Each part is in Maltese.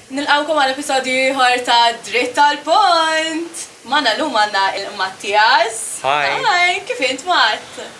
Nilqawkom għal episodju ieħor ta' Dritt tal-Pont! Mana l-lum għanna il-Mattias. Hi! Hi, kif int Matt?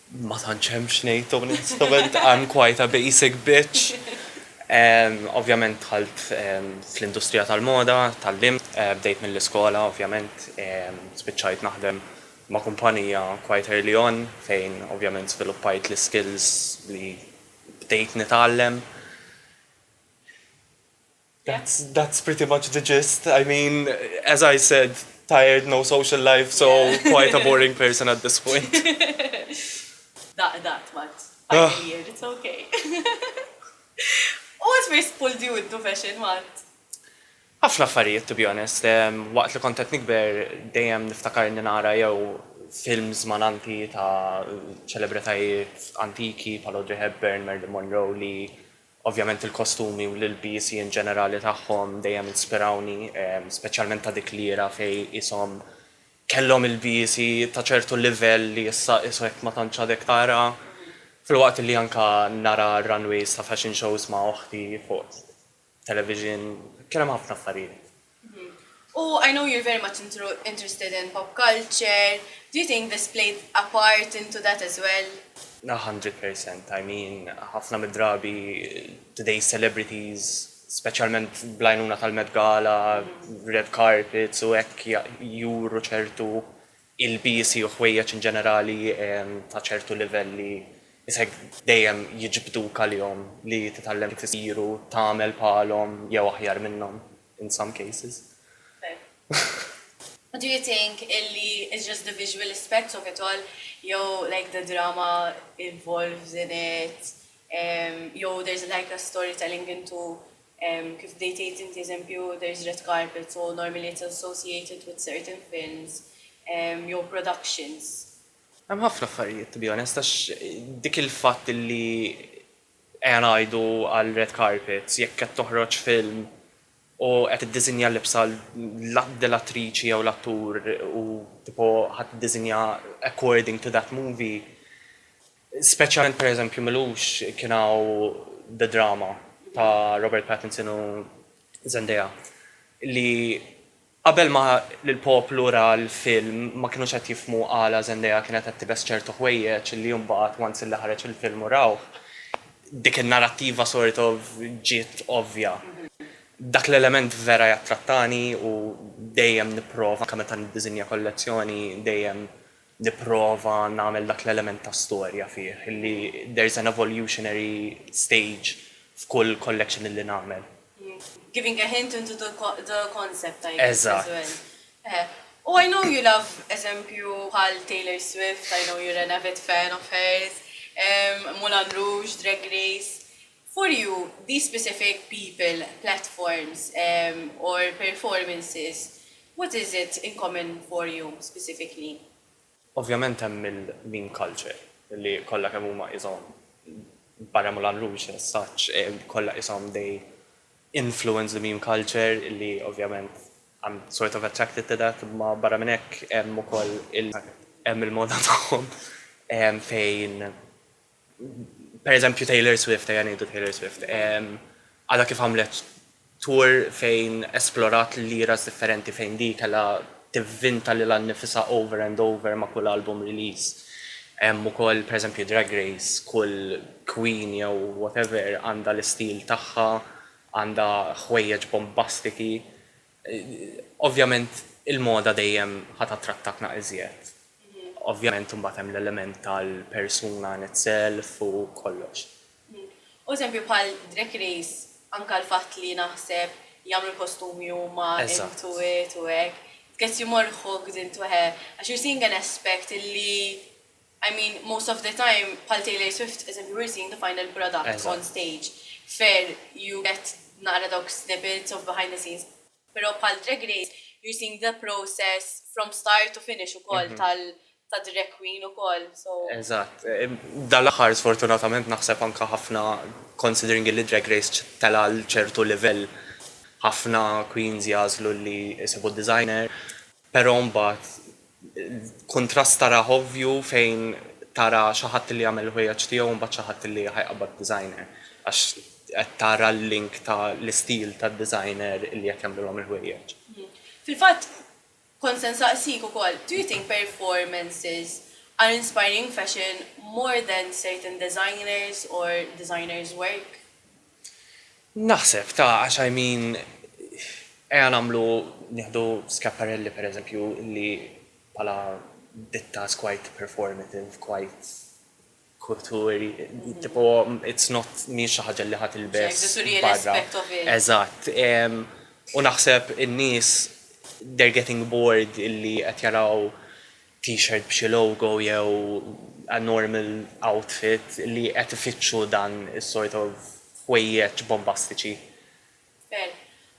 Ma tantx hemm x'ngħid onestament, I'm quite a basic bitch. Ovvjament dħalt fl-industrija tal-moda, tgħallimt, bdejt mill-iskola ovvjament, spiċċajt naħdem ma' kumpanija quite early on fejn ovvjament żviluppajt l-iskills li bdejt nitgħallem. That's pretty much the gist. I mean, as I said, tired, no social life, so quite a boring person at this point. Daqq daqq tbagħat. Final year, it's ok. U what first pulled you into fashion, Matt? Ħafna affarijiet, to be honest. Waqt li kont qed nikber dejjem niftakar inni nara jew films malanti ta' ċelebritajiet antiki bħal Audrey Hepburn, Marilyn Monroe li Ovvjament il-kostumi u l-ilbiesi in ġenerali tagħhom dejjem inspirawni, speċjalment ta' dik l-era fejn qishom kellhom ilbiesi ta' ċertu livell li issa qishekk ma tantx għadek tara. Filwaqt li anke nara runways ta' fashion shows ma' oħti fuq television, kien hemm ħafna affarijiet. U I know you're very much interested in pop culture, do you think this played a part into that as well? A hundred percent, I mean ħafna mid-drabi today's celebrities, speċjalment bl-għajnuna tal-Met Gala, red carpets u hekk juru ċertu ilbiesi u ħwejjeġ in ġenerali ta' ċertu livell li isek dejjem jiġbduk għalihom li titgħallem kif isiru, tagħmel bħalhom jew aħjar minnhom in some cases. What do you think illi is just the visual aspects of it all jew like the drama involves in it jew there's like a storytelling into Kif bdejt tgħid inti eżempju there is red carpet so normally it's associated with certain films jew productions. Hemm ħafna affarijiet to be honest għax dik il-fatt li ejja ngħidu għal red carpets jekk qed toħroġ film u qed iddiżinja l-libsa l-attriċi jew l-attur u tipo ħa tiddiżinja according to that movie. Speċjalment pereżempju m'ilux kien hawn The Drama ta' Robert Pattinson u Zendaya li qabel ma l-poplu ra l-film ma kinux qed jifhmu għala Zendaya kienet qed tibes ċertu ħwejjeġ li imbagħad once li ħareġ il-film u rawh dik in-narattiva sort of ġiet ovvja. Dak l-element vera jattrattani u dejjem nipprova anke meta niddiżinja kollezzjoni dejjem nipprova nagħmel dak l-element ta' storja fih, illi there's an evolutionary stage f'kull collection illi nagħmel. Giving a hint into the the concept I guess as well. Eżatt. U I know you love eżempju bħal Taylor Swift, I know you're an avid fan of hers, Moulin Rouge, Drag Race. For you, these specific people, platforms or performances, what is it in common for you specifically? Ovvjament hemm il-meme culture li kollha kemm huma qishom barra Moulin Rouge as such kollha qishom they influence the meme culture li ovvjament I'm sort of attracted to that imma barra minn hekk hemm ukoll il-moda tagħhom fejn pereżempju Taylor Swift, ejja ngħidu Taylor Swift, għadha kif għamlet tour fejn esplorat l-eras differenti fejn di kellha tivvinta lil nnifisha over and over ma' kull album release. Hemm ukoll pereżempju Drag Race, kull queen jew whatever għandha l-istil tagħha, għandha ħwejjeġ bombastiki. Ovvjament il-moda dejjem ħa tattrattaqna iżjed. Ovvjament imbagħad hemm l-element tal-persuna in itself u kollox. U eżempju bħal Drag Race anke l-fatt li naħseb jagħmlu l-kostumi huma, intuit u hekk, it gets you more hooked into għax you're seeing an aspect li I mean most of the time bħal Taylor Swift eżempju we're seeing the final product on stage fair you get naqra dawk snippets of behind the scenes pero bħal Drag Race you're seeing the process from start to finish ukoll tal ta' drag queen ukoll so Eżatt. Dan l-aħħar sfortunatament naħseb anke ħafna considering illi Drag Race tela' għal ċertu livell ħafna queens jagħżlu li jsibu designer. Però mbagħad kuntrast tarah ovvju fejn tara xi ħadd li jagħmel il-ħwejjeġ tiegħu u mbagħad xi ħadd li ħajqabbad designer għax qed tara l-link ta' l-istil tad-designer li qed jagħmlilhom il-ħwejjeġ. Fil-fatt kont se nsaqsik ukoll, do you think performances are inspiring fashion more than certain designers or designers work? Naħseb, ta, għax I mean, ejja nagħmlu, nieħdu Schiaparelli per eżempju li bħala ditta is quite performative, quite kulturi, tipo it's not mhijiex xi ħaġa li ħa tilbes barra. Eżatt. U naħseb in-nies they're getting bored illi qed jaraw t-shirt b'xi logo jew a normal outfit li qed ifittxu dan is-sort of ħwejjeġ bombastiċi. Fair.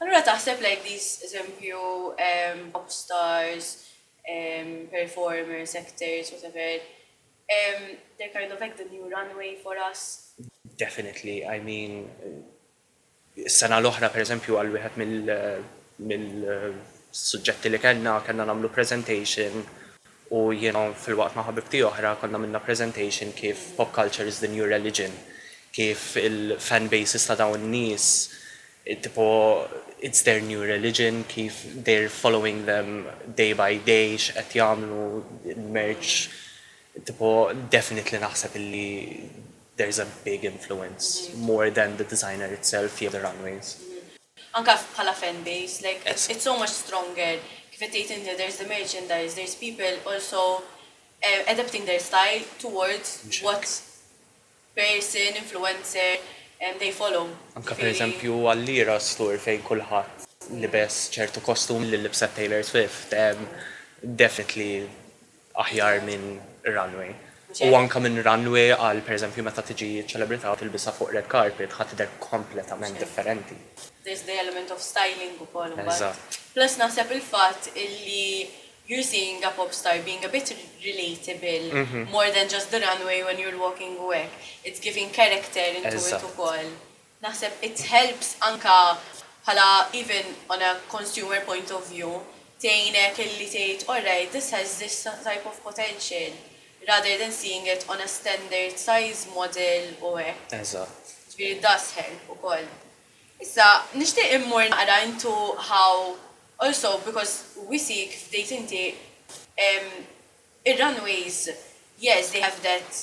Allura taħseb like these eżempju pop stars, performers, actors, whatever, they're kind of like the new runway for us? Definitely, I mean Is-sena l-oħra, pereżempju, għal wieħed mill-suġġetti li kellna, kellna nagħmlu presentation u jiena filwaqt ma' ħabibti oħra konna għmilna presentation kif pop culture is the new religion, kif il-fan bases ta' dawn in-nies tipo it's their new religion, kif they're following them day by day, x'qed jagħmlu, il-merch, tipo definitely naħseb illi There is a big influence more than the designer itself jew the runways. Anka bħala fan base like it's so much stronger kif qed tgħid inti there is the merchandise, there is people also adapting their style towards what person, influencer they follow. Anka per eżempju għall-Eras tour fejn kulħadd libes ċertu kostum li libset Taylor Swift definitely aħjar minn runway u anke minn runway għal pereżempju meta tiġi ċelebrità u tilbisha fuq red carpet ħa tidher kompletament differenti. There is the element of styling ukoll imbagħad. Plus naħseb il-fatt illi you are seeing a pop star being a bit relatable more than just the runway when you are walking u hekk. It's giving character into it ukoll. Naħseb it helps anka bħala even on a consumer point of view tgħinek illi tgħid alright this has this type of potential rather than seeing it on a standard size model u hekk. Eżatt. Ġifieri it does help ukoll. Issa nixtieq immur naqra into how also because we see kif bdejt inti ir-runways yes they have that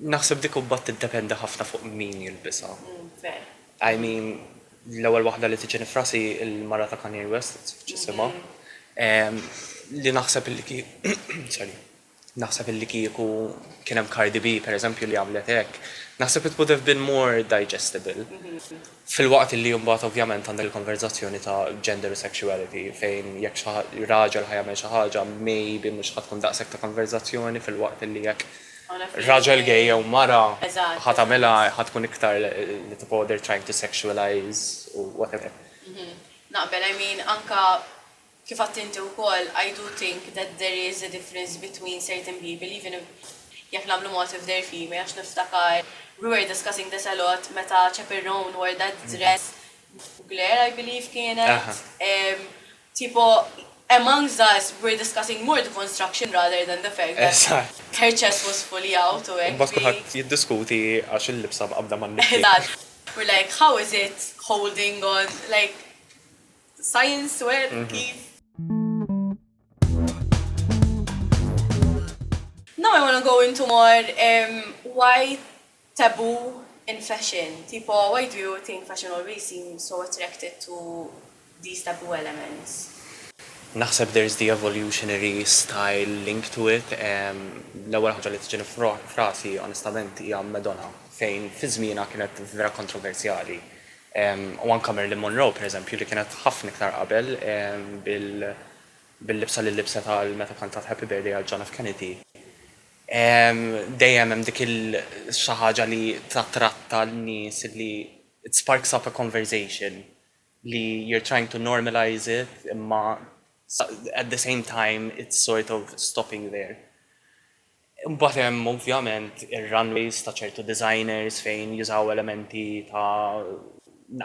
Naħseb dik imbagħad tiddependi ħafna fuq min jilbisha. I mean, l-ewwel waħda li tiġini f'rasi l-mara ta' Kanye West, x'isimha, li naħseb li sorry, naħseb li kieku kien hemm Cardi B, pereżempju, li għamlet hekk, naħseb it would have been more digestible. Filwaqt li mbagħad ovvjament għandek il-konverżazzjoni ta' gender u sexuality fejn jekk xi raġel ħa jagħmel xi ħaġa maybe mhux ħa tkun daqshekk ta' konverżazzjoni filwaqt li jekk raġel gay jew mara ħa tagħmilha ħa tkun iktar li tipo they're trying to sexualize u whatever. Mhm. Naqbel, I mean anka Kif għadt inti wkoll, I do think that there is a difference between certain people even if jekk nagħmlu mod if they're female għax niftakar we were discussing this a lot meta Chaperone wore that dress Mugler I believe kienet tipo amongst us we were discussing more the construction rather than the fact that her chest was fully out u hekk. Imbagħad kulħadd jiddiskuti għax il-libsa mqabbda man-nifs. Eżatt. We're like how is it holding on like Science where kif. Now I wanna go into more um, why taboo in fashion. Tipo, why do you think fashion always seems so attracted to these taboo elements? Naħseb there's the evolutionary style link to it. L-ewwel ħaġa li tiġini frasi onestament hija Madonna fejn fi żmienha kienet vera kontroversjali. u anke Marilyn Monroe, pereżempju, li kienet ħafna iktar qabel bil-libsa li libset għal meta kantat Happy Birthday għal John F. Kennedy, dejjem hemm dik il-xi ħaġa li tattratta n-nies li it sparks up a conversation li you're trying to normalise it imma at the same time it's sort of stopping there. Imbagħad hemm ovvjament ir-runways ta' ċertu designers fejn jużaw elementi ta'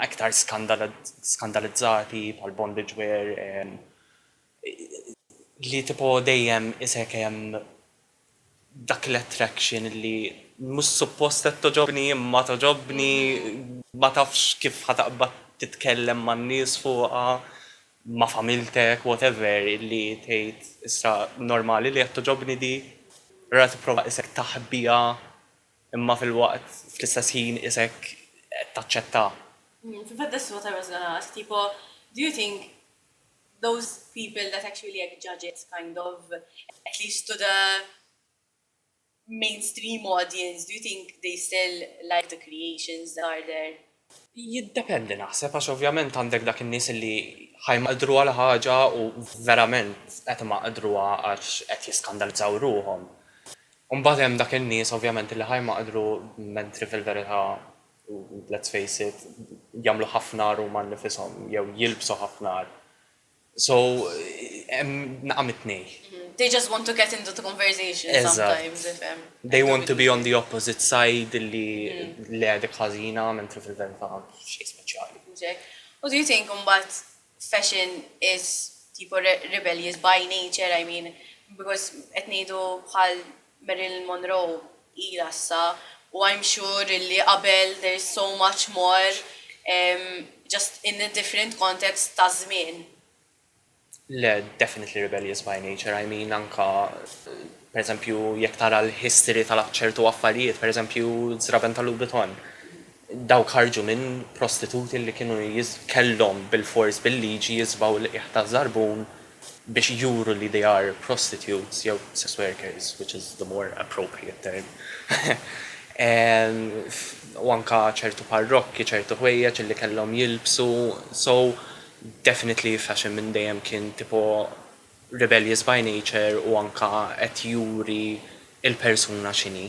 iktar skandalizzati bħal bondage wear li tipo dejjem isek hemm dak l-attraction li mhux suppost qed togħġobni imma togħġobni ma tafx kif ħa taqbad titkellem man-nies fuqha ma familtek whatever illi tgħid issa normali li qed togħġobni di ra tipprova qisek taħbiha imma filwaqt fl-istess ħin qisek qed taċċetta. Fil-fatt that's what I was gonna ask tipo do you think those people that actually hekk judge it kind of at least to the mainstream audience, do you think they still like the creations that are there? Jiddependi naħseb għax ovvjament għandek dak in-nies illi ħa jmaqdru għal ħaġa u verament qed imaqdruha għax qed jiskandalizzaw ruħhom. U mbagħad hemm dak in-nies ovvjament illi ħa jmaqdru mentri fil-verità let's face it jagħmlu ħafna agħar huma nnifishom jew jilbsu ħafna agħar. So hemm naqgħa mit-tnejn. They just want to get into the conversation sometimes, tifhem. Eżatt. They want to be on the opposite side li le dik ħażina mentri fil-verità xejn speċjali. Exact. U do you think imbagħad fashion is tipo rebellious by nature, I mean, because qed ngħidu bħal Marilyn Monroe ilha issa u I'm sure illi qabel there is so much more just in a different context ta' żmien. Le, definitely rebellious by nature, I mean anka per eżempju jekk tara l-history ta' ċertu affarijiet, per eżempju żraben ta' Louboutin, dawk ħarġu minn prostituti li kienu kellhom bilfors bil-liġi jiżbgħu l-qiegħ taż-żarbun biex juru li they are prostitutes jew sex workers, which is the more appropriate term, u anka ċertu parrokki, ċertu ħwejjeġ illi kellhom jilbsu, so definitely fashion minn dejjem kien tipo rebellious by nature u anka qed juri l-persuna x'inhi.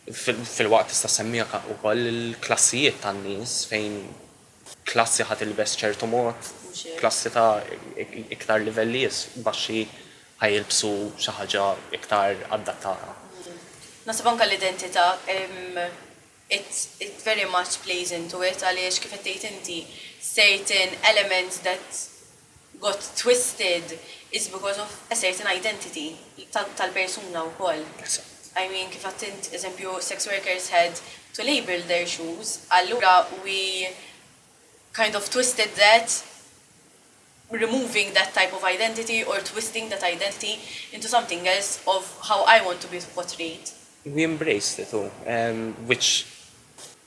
Filwaqt tista' ssemmi anka wkoll il-klassijiet tan-nies fejn Klassi ħa tilbes ċertu mod, klassi ta' iktar livelli baxxi ħa jilbsu xi ħaġa iktar adattata. Naħseb anke l-identità it very much plays into it għaliex kif qed tgħid inti certain elements that got twisted is because of a certain identity tal-persuna wkoll. I mean kif għedt int eżempju sex workers had to label their shoes allura we kind of twisted that removing that type of identity or twisting that identity into something else of how I want to be portrayed. We embraced it u which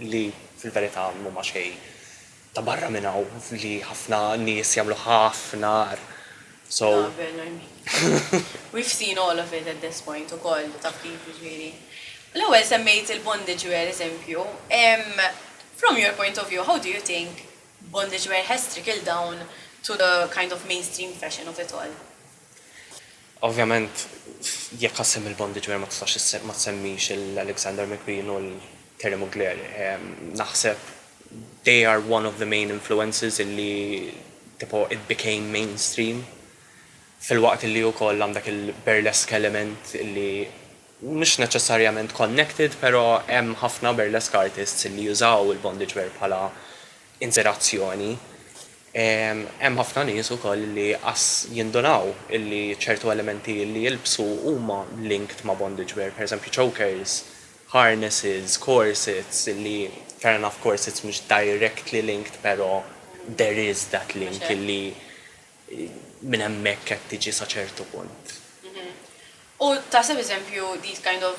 li fil-verità mhuma xejn ta' barra minn hawn li ħafna nies jagħmlu ħafna agħar. So. Naqbel Nermin. We've seen all of it at this point ukoll, taf kif, jiġifieri. L-ewwel semmejt il-bondage wear eżempju. From your point of view, how do you think bondage wear has trickled down to the kind of mainstream fashion of it all? Ovvjament jekk assemm il-Bondi Ġmiel ma tistax ma tsemmix il-Alexander McQueen u l-Terry Mugler. Naħseb they are one of the main influences illi tipo it became mainstream filwaqt illi ukoll għandek il-burlesque element illi mhux neċessarjament connected pero hemm ħafna burlesque artists illi jużaw il-Bondi Ġmiel bħala inzerazzjoni. Hemm ħafna nies ukoll li qas jindunaw illi ċertu elementi li jilbsu huma linked ma' bondage wear, pereżempju chokers, harnesses, corsets illi fair enough corsets mhux directly linked però there is that link illi minn hemmhekk qed tiġi sa ċertu punt. U taħseb eżempju these kind of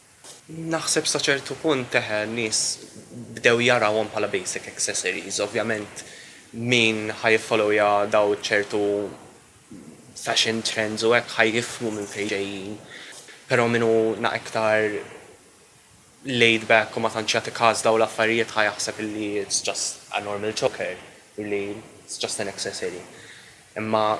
Naħseb sa ċertu punt eh, nies bdew jarawhom bħala basic accessories. Ovvjament min ħa jiffollowja daw ċertu fashion trends u hekk ħa jifhmu minn fejn ġejjin. Però min hu na iktar laid back u ma tantx jagħti każ daw l-affarijiet ħa jaħseb illi it's just a normal choker, illi it's just an accessory. Imma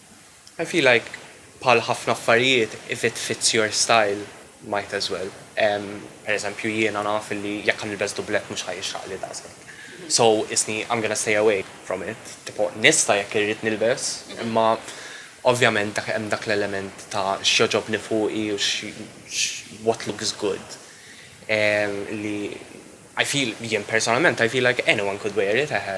I feel like bħal ħafna affarijiet if it fits your style might as well. Per eżempju jiena naf illi jekk ħa nilbes dublett mhux ħa jixraqli daqshekk. So isni I'm gonna stay away from it. Tipo nista' jekk irrid nilbes imma ovvjament dak hemm dak l-element ta' x'jogħġobni fuqi u what looks good li I feel jien personalment I feel like anyone could wear it eħe.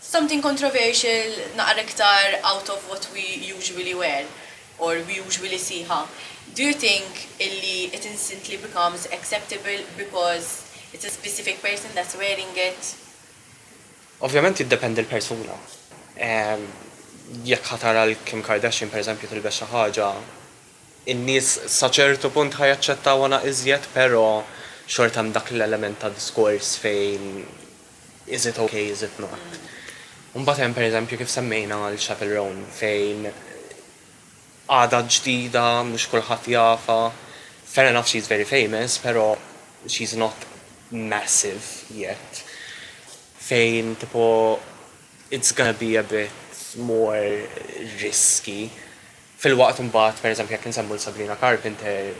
Something controversial naqra iktar out of what we usually wear or we usually see ha. Do you think illi it instantly becomes acceptable because it's a specific person that's wearing it? Ovvjament jiddependi l-persuna. Jekk ħa tara 'l Kim Kardashian per eżempju tilbes xi ħaġa, in-nies sa ċertu punt ħa jaċċettawha naq iżjed pero xorta hemm dak l-element ta' diskors fejn Is it ok, is it not? U mbagħad hemm pereżempju kif semmejna għal Chapel Roan fejn għadha ġdida, mhux kulħadd jafha, fair enough she's very famous però she's not massive yet. Fejn tipo it's gonna be a bit more risky. Filwaqt imbagħad pereżempju jekk insemmu lil Sabrina Carpenter,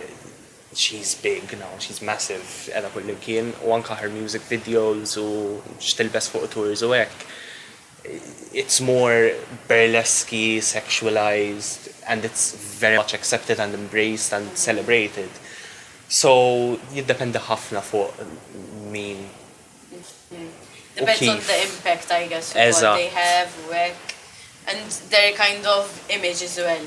She's big now, she's massive, qiegħda kullimkien u anke her music videos u x'tilbes fuq tours u hekk, it's more burlesque-y, sexualised and it's very much accepted and embraced and celebrated. So jiddependi ħafna fuq min u kif. Depends on the impact I guess u what they have u hekk and their kind of image as well.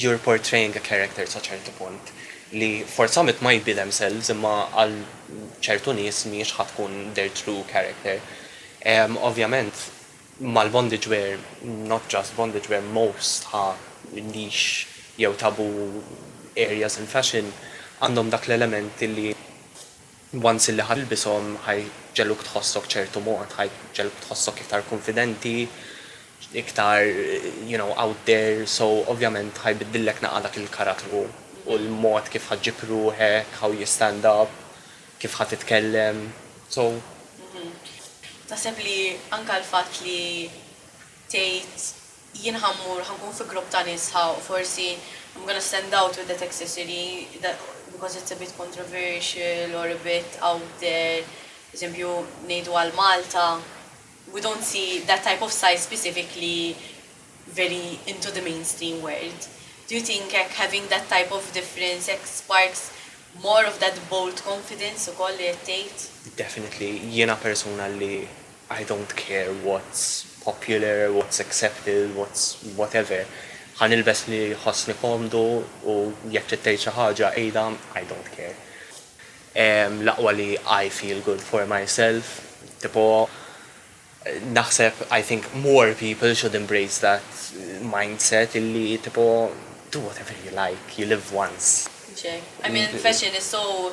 you're portraying a character sa ċertu punt li forzament might be themselves imma għal ċertu nies mhijiex ħa tkun their true character. Ovvjament mal-bondage wear, not just bondage wear, most ħa niche jew taboo areas in fashion għandhom dak l-element li, Once illi ħa tilbishom ħa jġegħluk tħossok ċertu mod, ħa jġegħluk tħossok iktar kunfidenti, iktar you know out there, so ovvjament ħa jbiddillek naqqa dak il-karattru u l-mod kif ħa ġġib ruħek, how you stand up, kif ħa titkellem, so. Taħseb li anka l-fatt li tgħid Jien ħa mmur, ħa nkun fi grupp ta' nies sħaħ u forsi I'm gonna stand out with that accessory that because it's a bit controversial or a bit out there, eżempju, ngħidu għal Malta, we don't see that type of size specifically very into the mainstream world. Do you think hekk having that type of difference hekk sparks more of that bold confidence ukoll li qed tgħid? Definitely. Jiena persuna li I don't care what's popular, what's accepted, what's whatever, ħa nilbes li jħossni komdu u jekk trid tgħid xi ħaġa għidha, I don't care. L-aqwa li I feel good for myself, tipo naħseb I think more people should embrace that mindset illi tipo do whatever you like, you live once. Ġej. I mean fashion is so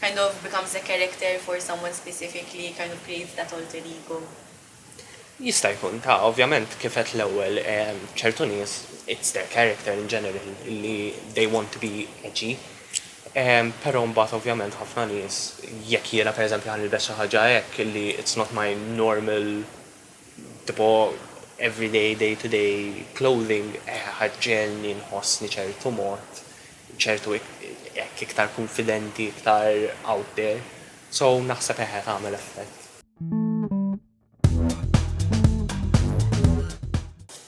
kind of becomes a character for someone specific li kind of creates that alter ego. Jista' jkun, ta', ovvjament kif għedt l-ewwel ċertu nies it's their character in general li they want to be edgy. Però mbagħad ovvjament ħafna nies jekk jiena pereżempju ħa nilbes xi ħaġa hekk li it's not my normal Tipo everyday, day to day clothing ħa ġġegħelni nħossni ċertu mod, ċertu hekk iktar kunfidenti, iktar out there. So naħseb eħe tagħmel effett.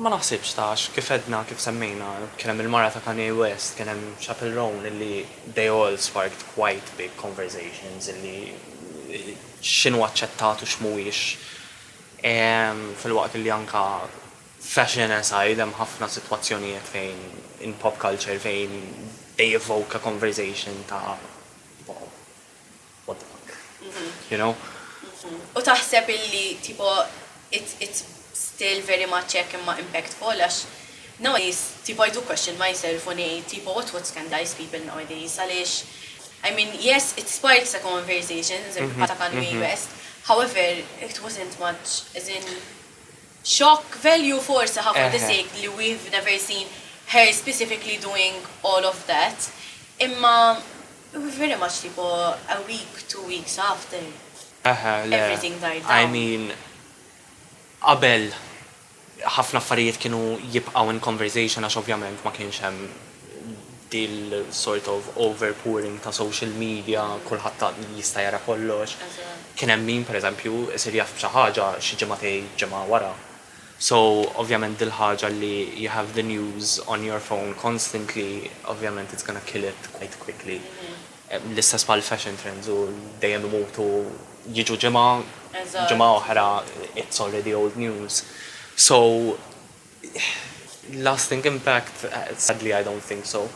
Ma naħsibx ta' għax kif għedna, kif semmejna, kien hemm il-mara ta' Kanye West, kien hemm Chappell Roan illi they all sparked quite big conversations illi x'inhu aċċettat u x'mhuwiex filwaqt illi anka fashion aside hemm ħafna sitwazzjonijiet fejn in pop culture fejn they evoke a conversation ta' what the fuck, you know? U taħseb illi tipo it's still very much hekk imma impactful għax nowadays tipo I do question myself u ngħid tipo what what scandalize people nowadays għaliex I mean yes it sparks a conversation eżempju bħal ta' Kanye West however it wasn't much as in shock value forsi ħa for the sake li we've never seen her specifically doing all of that imma It was very much tipo a week, two weeks after Eħe, le, everything died I down. mean qabel ħafna affarijiet kienu jibqgħu in conversation għax ovvjament ma kienx hemm dil-sort of overpouring ta' social media, kulħadd ta' jista' jara kollox. Eżatt. Kien hemm min, pereżempju, isir jaf b'xi ħaġa xi ġimagħtej, ġimgħa wara. So ovvjament dil-ħaġa li you have the news on your phone constantly ovvjament it's gonna kill it quite quickly. L-istess bħal fashion trends u dejjem imutu jiġu ġimgħa, ġimgħa oħra it's already old news. So lasting impact sadly I don't think so.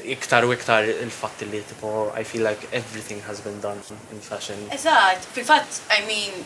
Iktar u iktar il-fatt li tipo I feel like everything has been done in fashion. Eżatt, fil-fatt I mean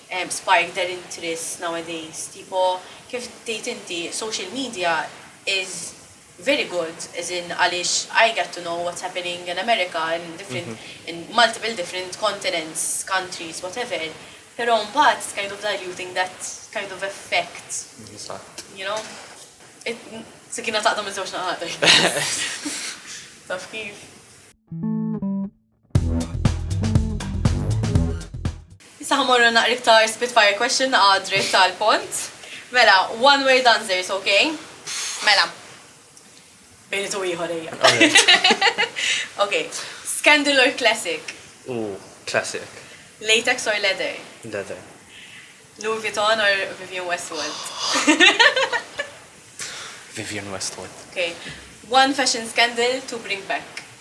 spike their interest nowadays tipo kif tgħid inti social media is very good as in għaliex i get to know what's happening in America in different in multiple different continents countries whatever pero mbagħad it's kind of diluting that kind of effect you know it sikkina taqta' miż-żewġ naħat taf kif. Issa ħamorru naqra iktar spitfire question naqgħa dritt tal-pont. Mela, one word answers, ok? Mela. Bejn tu ieħor ejja. Ok. Scandal or classic? U classic. Latex or leather? Leather. Louis Vuitton or Vivian Westwood? Vivian Westwood. Ok. One fashion scandal to bring back?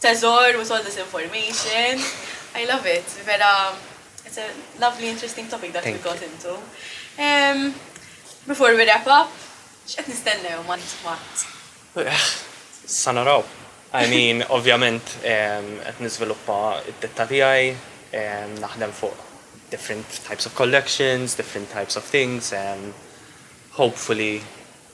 Teżor with all this information. I love it. Vera, it's a lovely interesting topic that we got into. Um, before we wrap up, x'qed nistennew ma nitmat? Sanaraw. I mean, ovvjament, ehm, qed niżviluppa id-ditta tiegħi, ehm, naħdem fuq different types of collections, different types of things, and hopefully